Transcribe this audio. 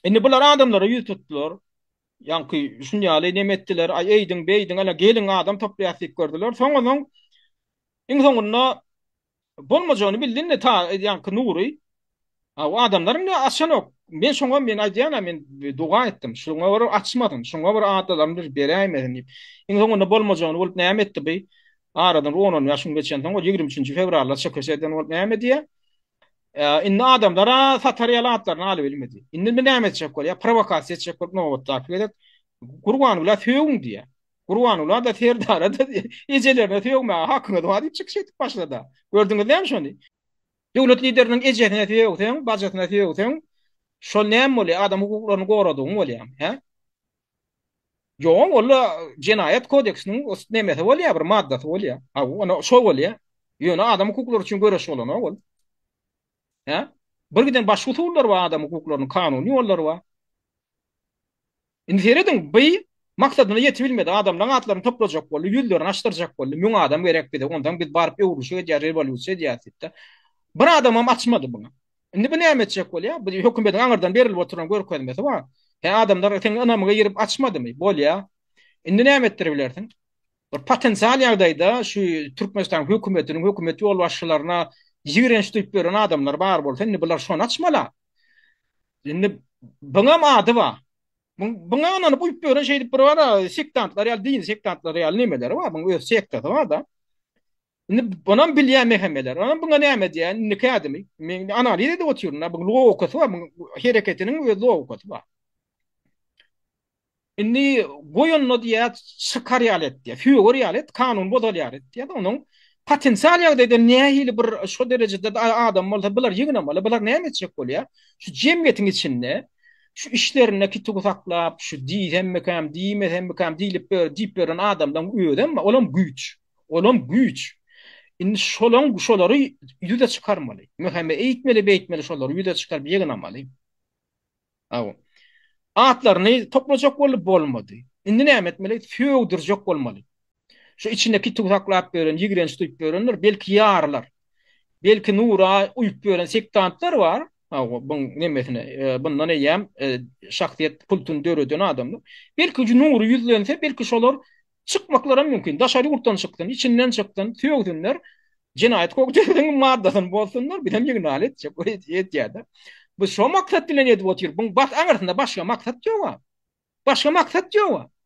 Indi bular adamlara ýüz tutdular. Ýaňky şun ýaly neme etdiler, aý eýdiň, beýdiň, ana geliň adam toplaýas diýip gördüler. Soňundan iň soňunda bolmajagyny bildinde ta ýaňky Nury A o adamlar indi açanok. Men şoňa men aýdýan, men doga etdim. Şoňa görä açmadym. Şoňa görä adalaryny bir beräýmedin diýip. Iň soňunda bolmajagyny bolup näme etdi bu? Aradan 10-10 ýaşyň geçenden soň 23-nji fewralda çekeseden bolup näme diýýär? Indi adamlara satar ýaly atlaryny alyp bilmedi. Indi bir näme etjek bolýar? Prowokasiýa etjek bolup nobatdaky gezek Gurbanguly sögün diýýär. Gurbanguly da Serdara da ejelerine sögmäge hakyňyz bar diýip çykyş edip başlady. Gördüňiz näme şony? Döwlet lideriniň ejesine sögseň, bajysyna sögseň, şol näme bolýar? Adam hukuklaryny goradygyň bolýarmy, hä? Ýoň walla jenaýat kodeksiniň nemesi bolýar bir maddasy bolýar. Ha ony şo bolýar. Ýöne adam hukuklary üçin göreş bolana ol. Hä? Bir giden başga usullar bar adam hukuklarynyň kanuny ýollary bar. Indi serediň bi maksadyna ýetip bilmedi. Adamlaryň atlaryny toplajak boldy, ýüzlerini açdyrjak boldy. Müň adam gerek bize. Ondan biz baryp öwrülişik edýär, rewolýusiýa edýär diýipdi. Bir adamam açmady muny. Indi bu näme etjek bolýar? Bu hökümediň aňyrdan berilip oturan görkezmesi bar. Hä, adamlar seň ynamyňa girip açmadymy? Bolýar. Indi näme etdiribilersiň? Bir potensial ýagdaýda şu Türkmenistan hökümetiniň hökümet ýolbaşçylaryna ýigrenç duýup ýören adamlar bar bolsa, indi bular şony açmaly-a. Indi buňam ady bar. Buňa ynanyp uýup ýören şeýdip biri bar-a, sektantlar ýaly, dini sektantlar ýaly nemeleri bar, buň öz sektasy bar-da. Indi onam bilýän mehemeler. Onam buňa näme diýýän? Indiki ädimi? Men analiz edip otyryn. Buň logikasy bar, buň hereketiniň öz logikasy bar. Indi goýunda diýýär, çykar ýaly et diýýär, söwer ýaly et, kanun bozar ýaly et diýýär. Onuň potensial ýagdaýda nähili bir şu derejede adam bolsa, bular ýygnamaly, bular näme etjek bolýar? Şu jemgyýetiň içinde şu işlerinde kituw saklap, şu diýsemmikäm, diýmesemmikäm diýlip, diýip ýören adamlaryň özem, olam güýç. Olam güýç. Indi şolaň şolary ýüze çykarmaly. Möhäme eýtmeli, beýtmeli şolary ýüze çykaryp ýygnamaly. Aw. Atlaryny toplajak boldy, bolmady. Indi näme etmeli? Sögdürjek bolmaly. Şu içine kit uzaklap ýören, ýigrenç duýup ýörenler, belki ýarylar. Belki nura uýup ýören sektantlar bar. Aw, buň nemesine, bundan eýýäm şahsyýet kultuny döreden adamlar. Belki nury ýüzlense, belki şolar Çykmaklaram mümkin. Daşary ýurtdan çyksyn, içinden çyksyn, sögsinler. Jenaýat kodeksiň maddasyny bozsunlar, bizem ýygnaly etjek. Ol edýär-de. Biz şo maksat bilen edip otyr. Buň bas aňyrsynda başga maksat ýog-a. Başga maksat ýog-a.